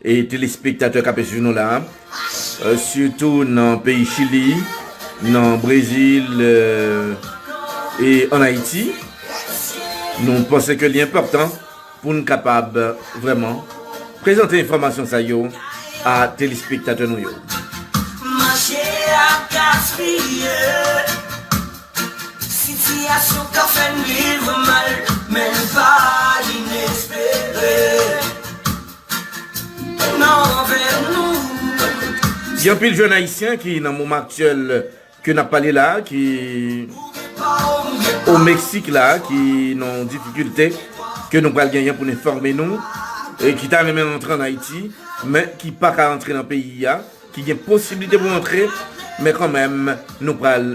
E telespektatè kap swiv nou la sitou nan peyi chili nan brezil e an ayiti nou panse ke li enpòtan poun kapab vrèman prezante enfòmasyon sa yo a telespektatè nou yo. Manje ap gaspiye Sitiyasyon ka fè n viv mal Men l pa inespere Gen anpil jèn ayisyen ki nan moman aktyèl ke nap pale la a ki o Meksik la a ki nan yon difikilte ke nou pral genyen pou n enfòme nou e ki ta renmen rantre an Ayiti men ki pa ka rantre nan peyi a ki gen posiblite pou rantre men kanmenm nou pral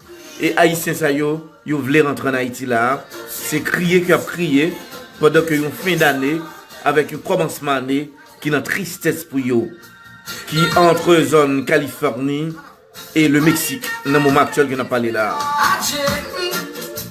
E ayisyen sa yo, yo vle rantre an Ayiti la a, se kriye ke y ap kriye, pandan ke yon fen dane avèk yon kòmansman ane ki nan tristès pou yo, ki antre zòn Kalifòni e Le Meksik nan moman aktyèl ke n ap pale la a.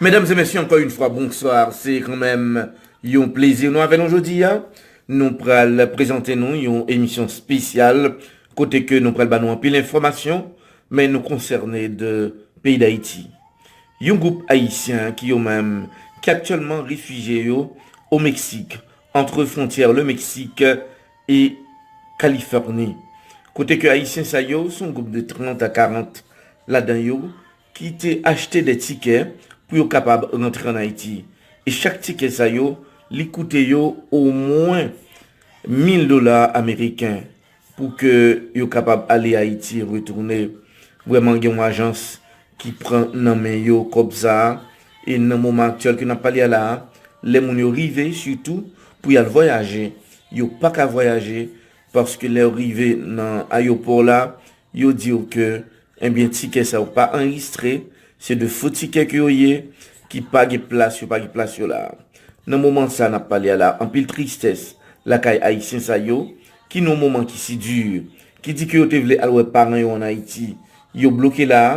Mesdames et messieurs, encore une fois, bonsoir. C'est quand même yon plaisir nou avè nou jodi a. Nou pral prezante nou yon emisyon spesyal kote ke nou pral ba nou anpil enfòmasyon men nou konsène de peyi d'Ayiti. Yon gwoup Ayisyen ki yo menm ki aktyèlman refije yo au Mexique, entre frontyè le Mexique e Kalifòni, kote ke Ayisyen sa yo, son gwoup de 30 a 40 ladan yo, ki te achte de tikè pou yo kapab rantre an Ayiti. E chak tikè sa yo, li koute yo omwen 1000 dola ameriken pou ke yo kapab ale Ayiti e retounen. Vrèman gen yon ajans ki pran nan men yo kòb sa a, e nan moman aktyèl ke n ap pale a la a, lè moun yo rive sitou pou y al vwayaje, yo pa ka vwayaje paske lè yo rive nan ayopò la, yo di yo ke enbyen tikè sa yo pa anrejistre, se de fo tikè ke yo ye, ki pa gen plas, yo pa gen plas yo la a. Nan moman sa a n ap pale a la a, anpil tristès lakay Ayisyen sa yo, ki nan yon moman ki si di, ki di ke yo te vle al wè paran yo an Ayiti, yo bloke la a,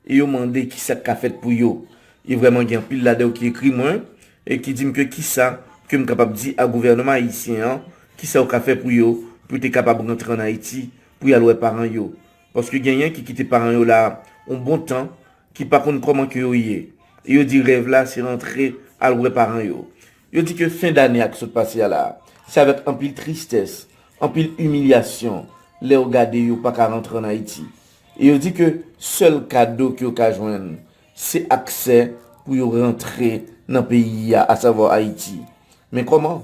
e yo mande kisa k ka fèt pou yo. E vrèman gen anpil ladan yo ki ekri mwen, e ki di m ke kisa ke m kapab di a gouvènman ayisyen an, kisa yo ka fè pou yo, pou yo te kapab rantre an Ayiti, pou y al wè paran yo. Paske genyen ki kite paran yo la a yon bon tan, ki pa konn kòman ke yo ye, e yo di rèv la se rantre al wè paran yo. Yo di ke fen dane a ki sot pase a la, se avèk anpil tristès, anpil imilyasyon lè yo gade yo pa ka rantre an Ayiti. E yo di ke sèl kado ke yo ka jwenn, se aksè pou yo rantre nan peyi a, asavwa Ayiti. Men kòman?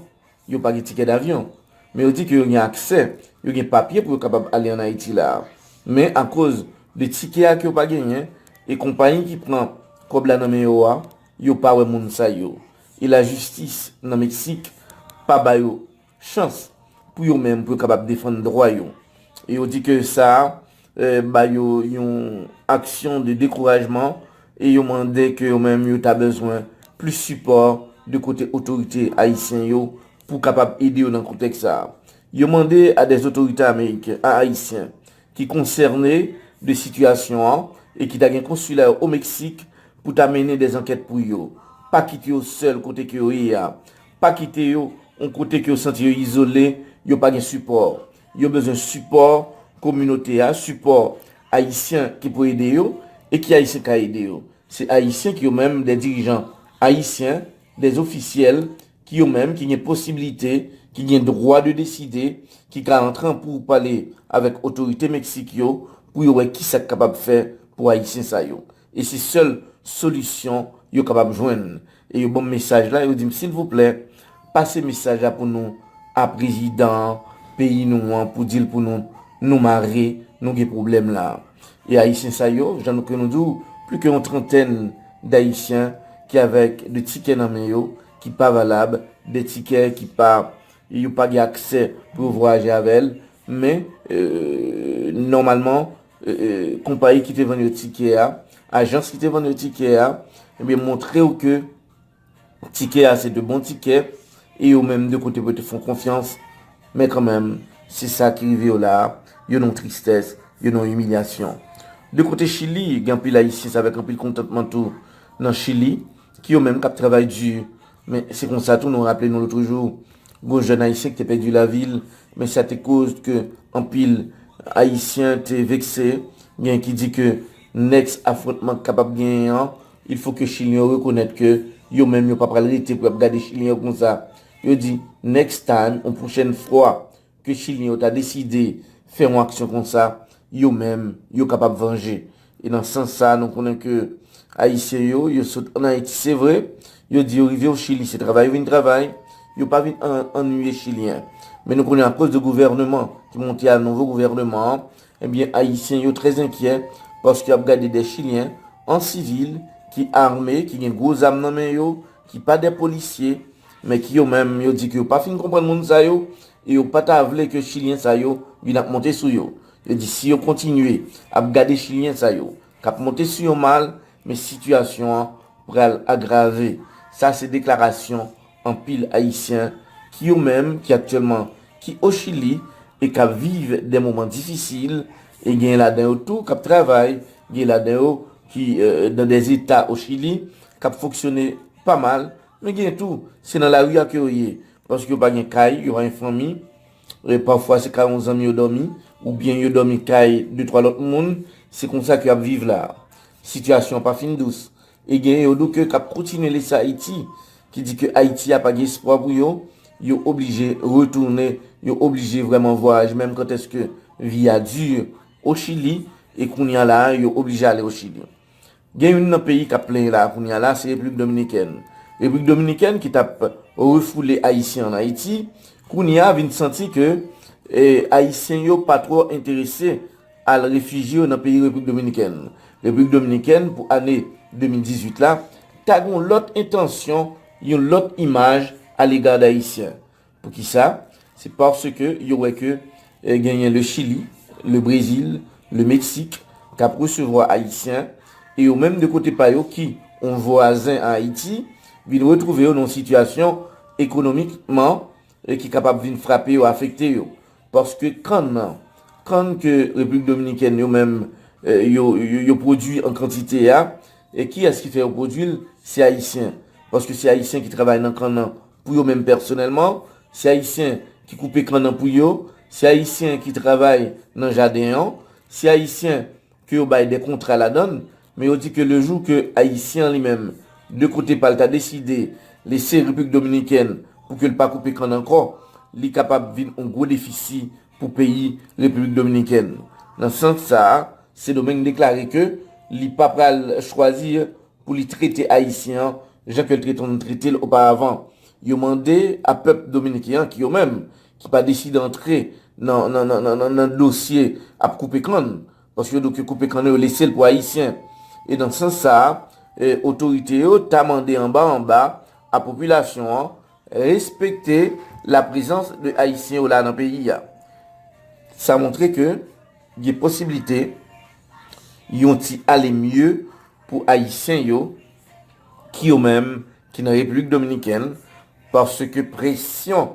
Yo pa gen tikè davyon. Men yo di ke yo gen aksè, yo gen papye pou yo kapab ale an Ayiti la. Men akoz de tikè a ke yo pa genyen, e konpayi ki pran kòb la nan men yo a, yo pa wè moun sa yo. E la jistis nan Meksik pa ba yo chans pou yo menm pou yo kapab defann dwa yo. E yo di ke sa ba yo yon aksyon de dekourajman e yo mande ke yo menm yo ta bezwen plis sipò de kote otorite ayisyen yo pou kapab ede yo nan kontèks sa. Yo mande a dè otorite ameriken, a ayisyen, ki konsène de sitiyasyon an e ki ta gen konsila yo o Meksik pou ta mennen de zankèt pou yo. Pa kite yo sèl kote ke yo ye a. Pa kite yo on kote ke yo santi yo izole, yo pa gen sipò. Yo bezwen sipò kominote a, sipò Ayisyen ki pou ede yo. E ki Ayisyen ka ede yo? Se Ayisyen ki yo menm de dirijan Ayisyen, de ofisyèl ki yo menm ki gen posibilite, ki gen dwa de deside, ki ka antran pou pale avèk otorite Meksik yo pou yo wè ki sa k kapab fè pou Ayisyen sa yo. E se sèl solisyon yo kapab jwenn. E yo ban m mesaj la, yo di m silvouplè, pase mesaj la pou nou a prezidan peyi nou an pou di l pou nou, nou mare, nou gen pwoblèm la. E Ayisyen sa yo, jan nou ke nou di w, pli ke yon trantèn dAyisyen ki avèk de tikè nan men yo ki pa valab, de tikè ki pa, yo pa gen aksè pou yo vwayaje avè l, men, nòmalman, konpayi ki te vann yo tikè a, ajans ki te vann yo tikè a, ebyen montre w ke. Tikè a se 2 bon tikè e yo menm 2 kote pou yo te fè w konfyans men kanmenm se sa ki rive yo la a, yo nan yon tristès, yo nan yon imilyasyon. De kote Chili, gen anpil Ayisyen se avèk anpil kontantman tou nan Chili ki yo menm k ap travay di men se konsa tou nou raple nou lotrejou gon jèn Ayisyen ki te pèdi lavi l men sa te koz ke anpil Ayisyen te vekse, gen ki di ke next afwontman k kapab genyen an. Il faut que chilien yo rekonèt ke yo menm yo pa pral rete pou yap gade chilien yo konsa. Yo di next time ou pwochèn fwa ke chilien yo ta deside fè yon aksyon konsa, yo menm yo kapab vanje. E nan sans sa nou konnen ke ayisyen yo, yo sot an Ayiti se vre, yo di yo rive o Chili se travay yo vin travay, yo pa vin annuiye chilien. Men nou konnen akoz de gouvèneman ki monte a nouvo gouvèneman an, Ebyen Ayisyen yo trè enkyè paske y ap gade dè Chilyen an sivil ki arme, ki gen gwo zam nan men yo, ki pa dè polisye, men ki yo menm yo di ke yo pa fin konprann moun sa yo e yo pa ta vle ke Chilyen sa yo vin ap monte sou yo. Yo di si yo kontinye ap gade Chilyen sa yo k ap monte sou yo mal, men sitiyasyon an pral agrave. Sa se deklarasyon. Anpil Ayisyen ki yo menm ki aktyèlman ki o Chili e k ap viv dè moman difisil e genyen ladan yo tou k ap travay, genyen ladan yo ki dan dè zeta o Chili k ap fonksyone pa mal men genyen tou se nan lari a ke yo ye paske yo pa gen kay, yo pa gen fanmi e pafwa se kay yon zanmi yo dòmi ou byen yo dòmi kay de twa lòt moun se konsa ke yo ap viv la a. Sitiyasyon an pa fin dous E genyen yo nou ke kap kontinye lese Ayiti, ki di ke Ayiti a pa gen espwa pou yo, yo oblije retounen, yo oblije vrèman vwayaj menm kant eske vi a di o Chili, e kounye a la a yo oblije ale o Chili. Gen youn nan peyi kap plenyen la a kounye a la a se Repiblik Dominikèn. Repiblik Dominikèn ki tap refoule Ayisyen an Ayiti, kounye a vin santi ke Ayisyen yo pa twò enterese, al refijye yo nan peyi Repiblik Dominikèn. Repiblik Dominikèn pou ane 2018 la ta gen yon lòt entansyon, yon lòt imaj alega dayisyen. Poukisa? Se paske yo wè ke genyen le Chili, le Brezil, le Meksik k ap resevwa ayisyen e yo menm de kote pa yo ki yon vwazen a Ayiti vin retwouve yo nan yon sitiyasyon ekonomikman ki kapab vin frape yo, afekte yo. Paske kann nan, kann ke Repiblik Dominikèn yo menm yo pwodui an kantite a, kiyès ki fè yo pwodui l? Se Ayisyen. Paske se Ayisyen ki travay nan kann nan pou yo menm pèsonèlman. Se Ayisyen ki koupe kann nan pou yo. Se Ayisyen ki travay nan jaden an. Se Ayisyen. ke yo bay de kontra ladan l, men yo di ke le jou ke Ayisyen an li menm, de kote pa l ta deside lese Repiblik Dominikèn pou ke l pa koupe kann ankò, li kapab vin on gwo defisi pou peyi Repiblik Dominikèn. Nan sans sa a, Sedomeng deklare ke li pa pral chwazi pou li trete Ayisyen an jan ke l te konn trete l oparavan. Yo mande a pèp Dominiken an ki yo menm ki pa deside antre nan dosye ap koupe kann, paske yo doke koupe kann yo lese l pou Ayisyen. E nan sans sa a, otorite yo ta mande anba anba a popilasyon an respekte la prezans de Ayisyen yo la nan peyi a. Sa montre ke gen posiblite yon ti ale mye pou Ayisyen yo ki yo menm ki nan Repiblik Dominikèn, paske presyon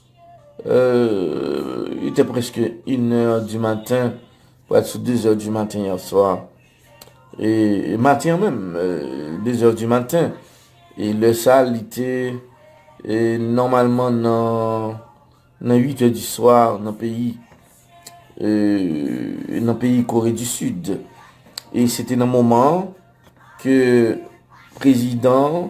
Euh, li te preske inè di maten, pou al sou dezè di maten yè swa. E maten an menm, dezè di maten. E lè sa li te nòmalman nan uitè di swa nan peyi, nan peyi Kore di Sid. E se te nan moman ke prezidan.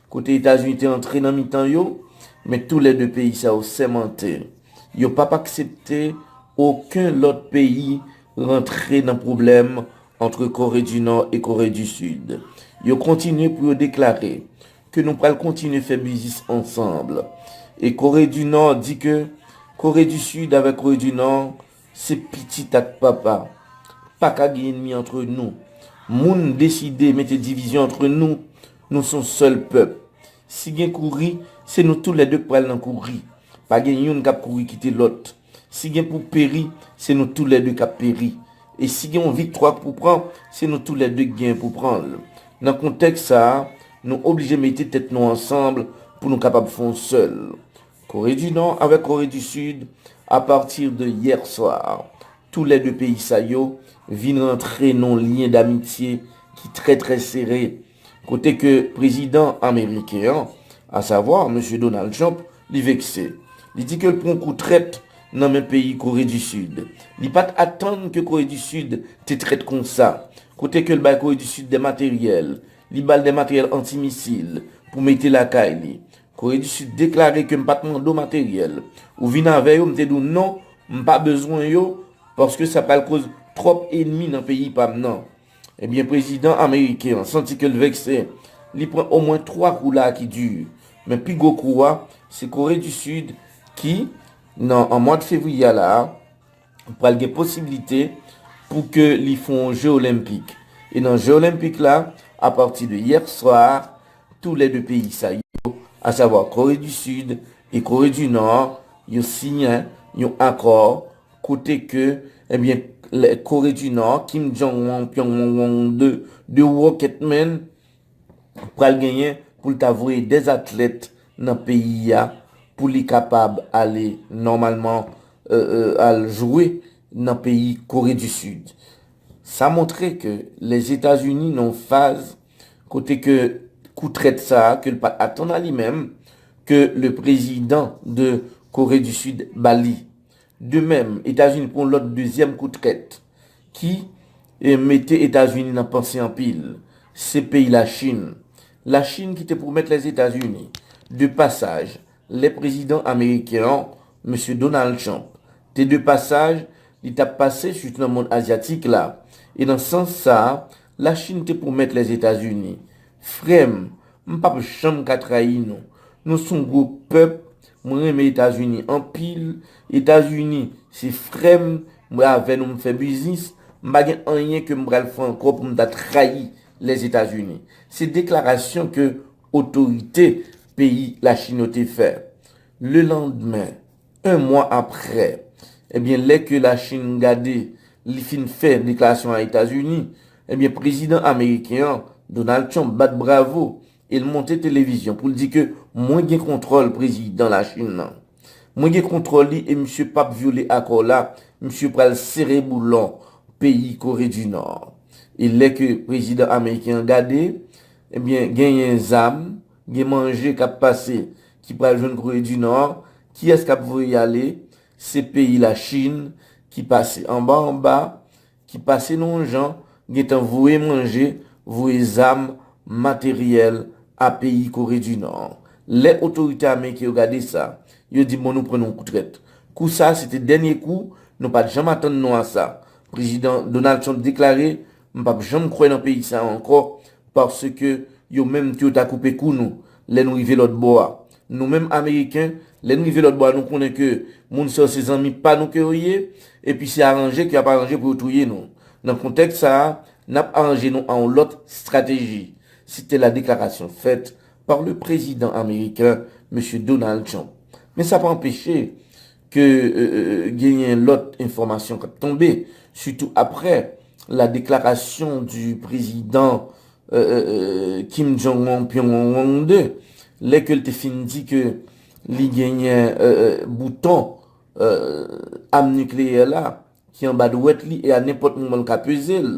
kote Etazini te antre nan mitan yo, men tou lè 2 peyi sa yo sèmante yo pap aksepte oken lòt peyi rantre nan pwoblèm antre Kore di Nò e Kore di Sid. Yo kontinye pou yo deklare ke nou pral kontinye fè biznis ansanb e Kore di Nò di ke Kore di Sid avèk Kore di Nò se pitit ak papa. Paka gen enmi antre nou. Moun deside mete divizyon antre nou, Nou son sèl pèp. Si gen kouri, se nou tou lè 2 k pral nan kouri. Pa gen youn k ap kouri kite lòt. Si gen pou peri, se nou tou lè 2 k ap peri. E si gen yon viktwa k pou pran, se nou tou lè 2 k genyen pou pran l. Nan kontèks sa a, nou oblije mete tèt nou ansanbl pou nou kapab fon sèl. Kore di Nò avèk Kore di Sid, a partir de hier soir, tou lè 2 peyi sa yo vin rantre nan yon lyen damitye ki trè trè sere, kote ke prezidan ameriken an, a savwa Mesye Donald Trump, li vekse. Li di ke l pran kou trèt nan men peyi Kore di Sid. Li pa t atann ke Kore di Sid te trèt konsa, kote ke l bay Kore di Sid dè materyèl, li ba l dè materyèl anti-misil pou mete lakay li. Kore di Sid deklare ke m pa t mande w materyèl. Ou vin avè yo, m te di w non, m pa bezwen yo paske sa pral koz twòp enmi nan peyi pa m nan. Ebyen prezidan ameriken an santi ke l vekse, li pran omwen 3 kou la ki di, men pi gwo kou a, se Kore di Sid ki, nan an mwad fevriye a la a, pral gen posibilite pou ke li fon yon je olenpik. E nan je olenpik la, a pati de yè swa, tou lè 2 peyi sa yo, a savwa Kore di Sid e Kore di Nò, yo siyen yon akò kote ke, ebyen, Kore di Nò, Kim Jong-un, Pyongyang, 2 rocket men, pral genyen pou l ta voye 2 atlèt nan peyi a pou li kapab ale nòmalman al jwe nan peyi Kore di Sid. Sa montre ke Lèzetazini nan yon faz kote ke kou trèt sa a ke l pat atann a li menm ke le prezidan de Kore di Sid ba li. De mèm, Etazini pran yon lòt dezyèm kou trèt ki mete Etazini nan panse anpil, se peyi Lachin. Lachin ki te pwomèt Lèzetazini de pasaj lè prezidan ameriken an, Mesye Donald Trump, te de pasaj, li t ap pase sitou nan mond azyatik la. E nan sans sa a, La chine te pwomèt les etats unis. Frèm, m pap janm ka trayi nou. Nou son gwo pèp, mwen renmen etats unis anpil, etats unis se frèm, mwen avè nou m fè biznis, m pa gen anyen ke m pral fè ankò pou m ta trayi les etats unis. Se deklarasyon ke otorite peyi la chine yo te fè. Le landmen, 1 mwa aprè, ebyen lè ke la Chin gade li fin fè deklarasyon a Etazini, ebyen prezidan ameriken an, Donald Trump bat bravo e l monte televizyon pou l di ke mwen gen kontwòl prezidan la Chin nan. Mwen gen kontwòl li e misye p ap vyole akò la, misye pral sere boulon peyi Kore di Nò. E lè ke prezidan ameriken an gade, ebyen genyen zam Gen manje kap pase ki pral jwenn Kore di Nò, kiyès kap voye y ale? Se peyi la Chin ki pase anba anba, ki pase nou yon jan, gentan voye manje, voye zam, materyèl a peyi Kore di Nò. Lè otorite ameriken yo gade sa, yo di bon nou pran nou yon kou trèt. Kou sa se te dènye kou, nou pat janm atann nou a sa. Prezidan Donald Trump deklare M pap janm kwè nan peyi sa ankò paske yo menm tou yo ta koupe kou nou lè nou rive lòt bò a. Nou menm ameriken lè n rive lòt bò a nou konnen ke moun sa yo se zanmi pa nou ke yo ye epi se aranje ke y ap aranje pou yo touye nou. Nan kontèks sa a n ap aranje nou a yon lòt strateji, se te la deklarasyon fèt pa le prezidan ameriken Mesye Donald Trump. Men sa pa anpeche ke genyen lòt enfòmasyon kap tonbe, sitou aprè la deklarasyon di prezidan Kim Jong Un Pyongyang 2, lè ke l te fin di ke li genyen bouton am nikleyè la ki anba dwèt li e a nenpòt moman l ka peze l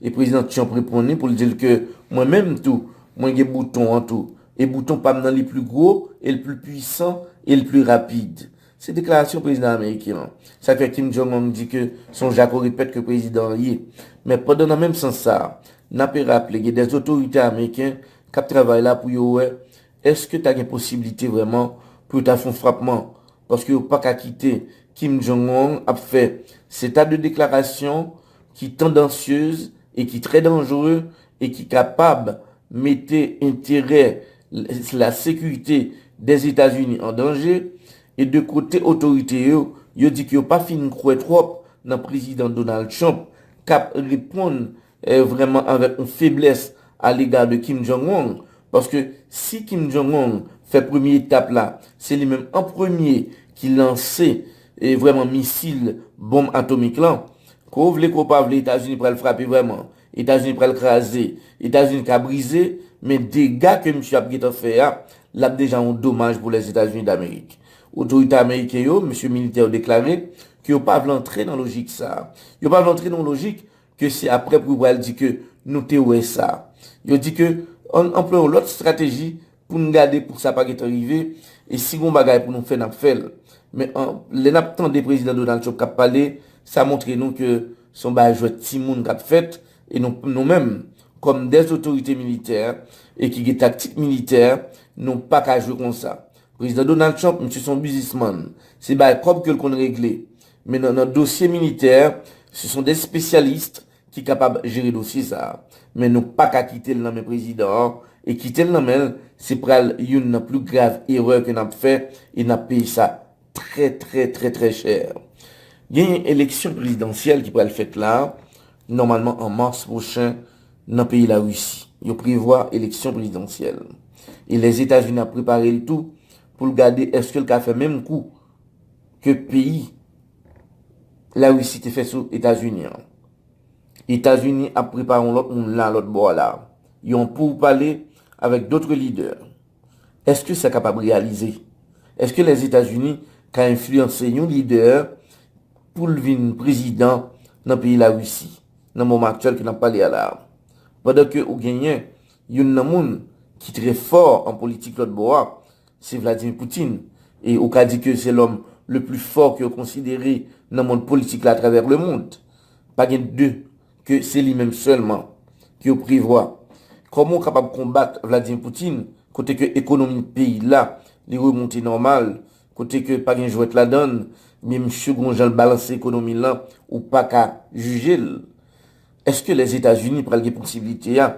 e prezidan Trump reponn li pou l di l ke mwen menm tou mwen gen bouton an tou e bouton pa m nan li pli gwo e l pli pwisan e l pli rapid se deklarasyon prezidan ameriken an sa k fè Kim Jong Ong di ke se yon jako repèt ke prezidan an ye men pandan nan menm sans sa n ape raple gen dè otorite ameriken k ap travay la pou yo wè èske ta gen posiblite vrèman pou yo ta fè yon frapman paske yo paka kite Kim Jong Un ap fè seta de deklarasyon ki tandansyez e ki trè danjre e ki kapab mete enterè la sekirite dè Etazini an danje e de kote otorite yo, yo di ke yo pa fin kwè twòp nan Prezidan Donald Trump kap reponn vrèman avèk yon feblès a lega de Kim Jong Un, paske si Kim Jong Un fè premye etap la, se li menm an premye ki lanse vrèman misil bonm atomik lan. Ke w vle ke w pa vle Etazini pral frape vrèman, Etazini pral kraze, Etazini ka brize, men dega ke misye ap gentan fè a, l ap deja yon domaj pou Lèzetazini Damerik. Otorite ameriken yo, mesye militè yo deklare ke yo pa vle antre nan lojik sa a. Yo pa vle antre nan yon lojik ke se aprè pou yo pral di ke nou te wè sa. Yo di ke ann anplwaye yon lòt strateji pou n gade pou sa pa gen tan rive, e si gon bagay pou nou fè n ap fè l. Men an, lè n ap tande Prezidan Donald Trump k ap pale, sa montre nou ke se yon bagay jwèt timoun k ap fèt, e nou, nou menm, kòm dè otorite militè, e ki gen taktik militè, nou pa ka jwe konsa. Prezidan Donald Trump, misye se yon bizismann, se bay kòb ke l konn regle. Men nan nan dosye militè, se son des spesyalist ki kapab jere dosye sa. Men nou pa ka kite l nan men prezidan an, e kite l nan men l, se pral youn nan pli grav erè ke n ap fè, e n ap peye sa trè trè trè trè chè. Genyen eleksyon prezidansyèl ki pral fèt la, nòmalman an mars pwochen nan peyi la Risi. Yo prevwa eleksyon prezidansyèl. E Lèzetazini ap prepare l tou pou l gade eske l ka fè menm kou. ke peyi Larisi te fè sou Etazini an. Etazini ap prepare yon lòt moun la lòt bò la, yon pouw pale avèk dotre lidè. Eske sa kapab reyalize? Eske Lèzetazini ka enfliyanse yon lidè poul vin prezidan nan peyi Larisi nan moman aktyèl ke nap pale a la? Pandan ke ou genyen youn nan moun ki trè fò an politik lòt bò a, Se Vladimir Putin. E ou ka di ke se lòm le pli fò ke yo konsidere nan mond politik la atravè le mond. Pa gen de ke se li menm sèlman ke yo prevwa. Kòman ou kapab konbat Vladimir Putin kote ke ekonomi peyi la li remonte nòmal, kote ke pa gen jwèt ladann, men msye gon jan l balanse ekonomi l lan ou pa ka jije l. Eske Lèzetazini pral gen posiblite a,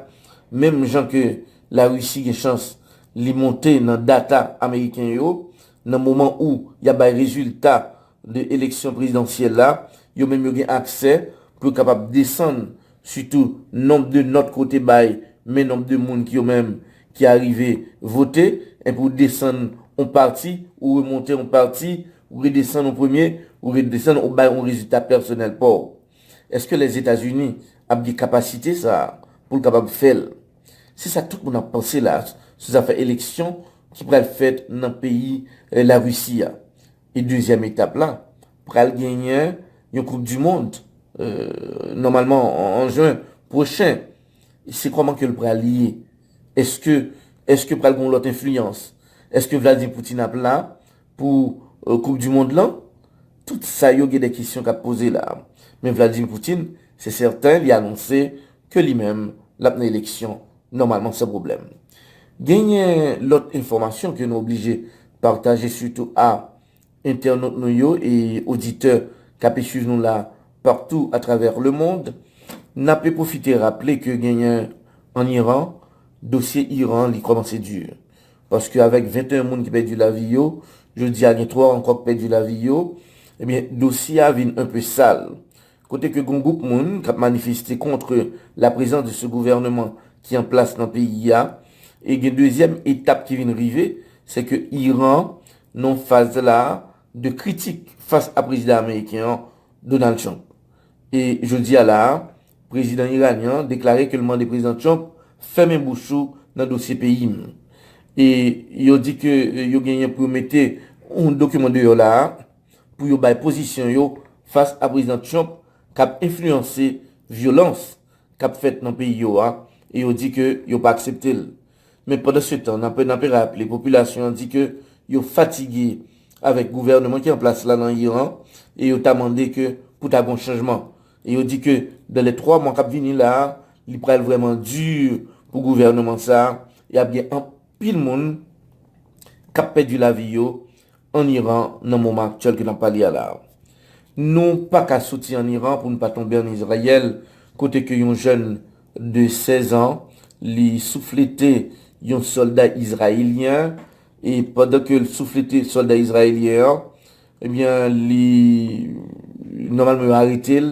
menm jan ke Larisi gen chans li monte nan data ameriken yo, nan moman ou y ap bay rezilta de eleksyon prezidansyèl la, yo menm yo gen aksè pou yo kapab desann sitou nonb de nòt ke w te bay men nonb de moun ki yo menm ki arive vote, enpi w desann on pati, ou remonte on pati, ou redesann on premye, ou redesann, ou bay on rezilta pèsonèl pa w. Eske Lèzetazini ap gen kapasite sa a pou l kapab fè l? Se sa tout moun ap panse la sou zafè eleksyon ki pral fèt nan peyi Larisi a. E dezyèm etap la, pral genyen yon koup di mond nòmalman an jen pwochen. Se kòman ke l pral ye? Eske pral gen yon lòt enfliyans? Eske Vladimir Poutine ap la Pou koup du mond lan, tout sa yo gen de kesyon kap poze la. Men Vladimir Poutine, se sèten li anonse ke li menm lap nan eleksyon nòmalman san pwoblèm. Genyen lòt enfòmasyon ke nou oblije pataje sitou a entènot nou yo e oditè kape swiv nou la partou a travè le mond. Nape pwofite raple ke genyen an Iran, dosye Iran li kòmanse dur. Paske avèk 21 moun ki pèdi lavi yo, jodi a gen 3 ankò k pèdi lavi yo, ebyen dosye a vin enpe sal. Kote ke gon gwoup moun k ap manifeste kontre la prezans de se gouvèneman ki an plas nan peyi a. E gen dezyèm etap ki vin rive, se ke Iran nan faz la de kritik fas a prezidan ameriken an, Donald Trump. E jodi a la a, Prezidan Iranyen an deklare ke l mande Prezidan Trump fèmen bouch ou nan dosye peyi m. E yo di ke yo genyen pou yo mete yon dokiman deyò la a pou yo bay pozisyon yo fas a Prezidan Trump k ap enfliyanse vyolans k ap fèt nan peyi yo a e yo di ke yo pa aksepte l. Men pandansetan, n ape raple popilasyon an di ke yo fatige avèk gouvèneman ki an plas la nan Iran e yo ta mande ke pou ta gon chanjman. E yo di ke dan lè 3 mwa kap vini la a, li pral vrèman di pou gouvèneman sa a, e ap gen anpil moun kap pèdi lavi yo an Iran nan moman aktyèl ke nap pale a la a. Nou pa ka soti an Iran pou nou pa tonbe an Izrayèl, kote ke yon jèn de 16 an, li souflete yon sòlda izrayelyen, e pandan ke l souflete sòlda izrayelyen an, Ebyen li nòmalman yo arete l,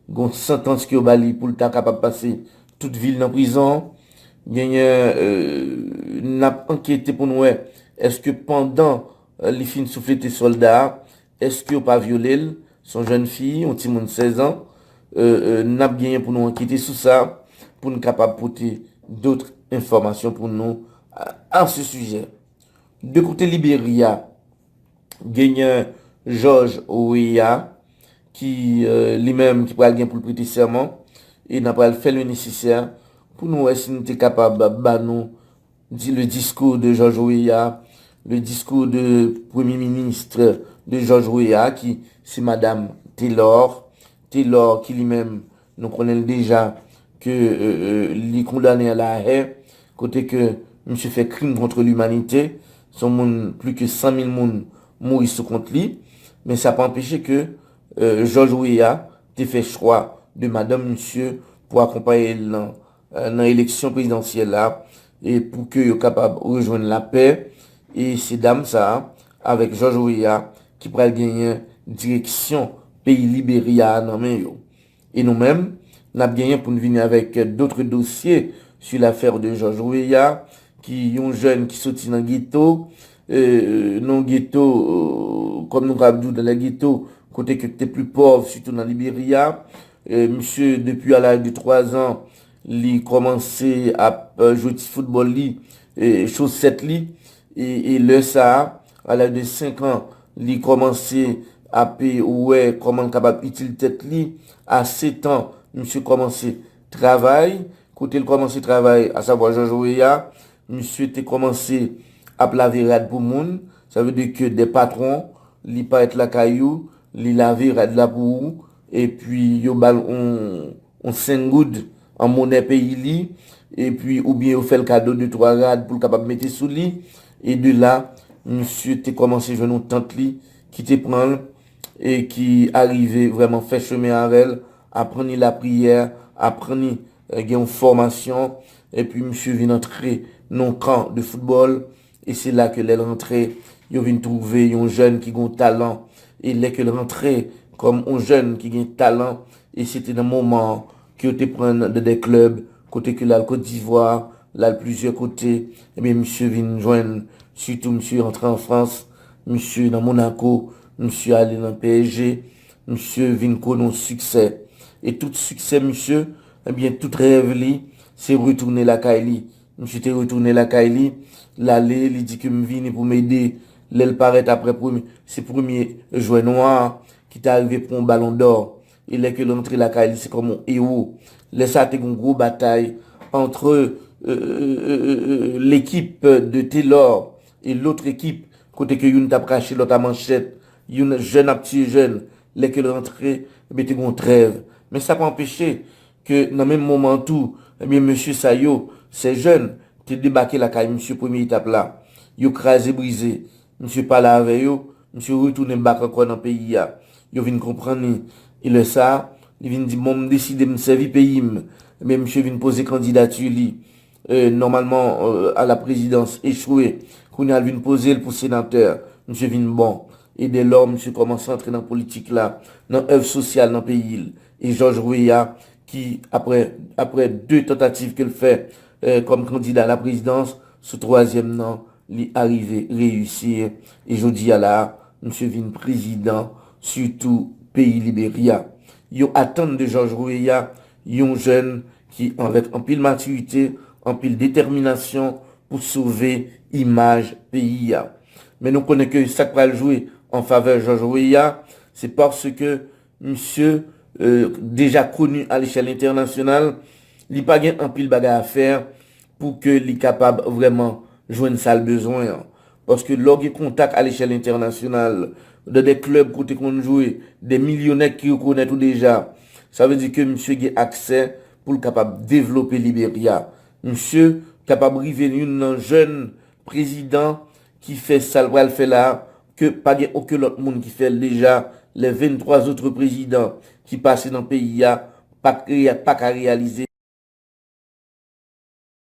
gon santans ke yo ba li pou l ta kapab pase tout vi l nan prizon. Genyen n ap ankete pou n wè èske pandan li fin souflete sòlda a, èske yo pa vyole l. S on jèn fi, yon timoun 16 an. N ap genyen pou nou ankete sou sa pou n kapab pote dotre enfòmasyon pou nou a se sijè. De kote Liberya. Genyen Jòj Weah ki li menm ki pral gen pou l prete sèman e n a pral fè le nesesè pou nou wè si nou te kapab ba nou le diskou de Jòj Weah, le diskou de premye minist de Jòj Weah ki se madam Telor, Telor ki li menm Nou konnen l deja ke li kondane a la hè kote ke misye fè krim kontre limanite, son moun pli ke 100 mil moun mouri sou kont li, men sa pa anpeche ke Jòj Weah te fè chwa de madanm misye pou akonpaye l nan eleksyon prezidansyèl la e pou ke yo kapab rejwenn lapè e se dam sa a avèk Jòj Weah ki pral genyen direksyon peyi Liberya a nan men yo. E nou menm, n ap genyen pou n vini avèk dotre dosye su lafèr de Jòj Weah ki yon jèn ki soti nan geto, nan geto, kòm nou kab di w dan lè geto, kote ke te pli pòv sitou nan Liberya. Misye depi a laj de 3 zan li kòmanse ap jwe ti foutbòl li, chosèt li e lè sa a, A laj de 5 an, li kòmanse ap wè kòman l kapab itil tèt li. A 7 an, misye kòmanse travay. Kote l kòmanse travay, asavwa Jòj Weah, misye te kòmanse ap lave rad pou moun. Sa vle di ke de patwon, li parèt lakay ou, li lave rad la pou ou, epi yo ba l yon. on sengoud an monè peyi li epi oubyen yo fè l kado de twa rad pou l kapab mete sou li e de la misye te kòmanse jwenn on tant li ki te pran l e ki arive vrèman fè chemen avè l aprann li lapriyè aprann li gen on fòmasyon epi misye vin antre nan on kan de foutbòl E se la ke lè l rantre, yo vin twouve yon jèn ki gen yon talan. E lè ke l rantre kòm yon jèn ki gen talan, e se te nan moman an ke yo te pran l nan de klèb, kote ke l al Kotdivwa, l al plizyè kote. Ebyen misye vin jwenn, sitou misye antre an Frans, misye nan Monako, misye ale nan PSG, misye vin konnen yon siksè. E tout siksè misye, ebyen tout rèv li, se retounen lakay li. Misye te retounen lakay li, l ale, li di ke m vini pou m ede. Lè l parèt aprè premye, se premye jwè nwa a ki ta rive pran yon balon dò. E lè ke l antre lakay li se kòm yon ewo. Lè sa a te gen yon gwo batay antre lekip de Telor e lotre ekip kote ke youn t ap rache lòt a manchèt, youn jèn ap tiye jèn. Lè ke l rantre, ebyen te gen yon trèv. Men sa pa anpeche ke nan menm moman an tou, ebyen mesye sa yo, ces jeunes, te debake lakay misye premye etap la, yo kraze brize, misye pale avè yo, misye retounen back ankò nan peyi a, yo vin konprann li, e lè sa, li vin di bon m deside m sèvi peyi m, ebyen misye vin poze kandidati li, Nòmalman a la prezidans echwe, kounye a l vin poze l pou senatè. Misye vin bon. E dèlò, misye kòmanse antre nan politik la, nan èv sosyal nan peyi l. E Jòj Weya ki, aprè de tantativ ke l fè kòm kandida a la prezidans, sou twazyèm nan, li arive reyisir. E jodi a la a, misye vin prezidan sitou peyi Liberya. Yo atann de Jòj Weya Yon jèn ki anvèt anpil matirite, anpil detèminasyon pou sove imaj peyi a. Men nou konnen ke sa k pral jwe an favè Jòj Weah, se paske misye deja koni alechèl entènasyonal, li pa gen anpil bagay a fè, pou ke li kapab vrèman jwenn sa l bezwen an. Paske lè w gen kontak alechèl entènasyonal, nan de klèb kote konn jwe, de milyonè ki rekonèt ou deja, sa vle di ke misye gen aksè pou l kapab devlope Liberya. Misye kapab rive youn nan jèn prezidan ki fè sa l pral fè la a, ke pa gen oken lòt moun ki fè l deja, lè 23 zotre prezidan ki pase nan peyi a pa t pa ka reyalize.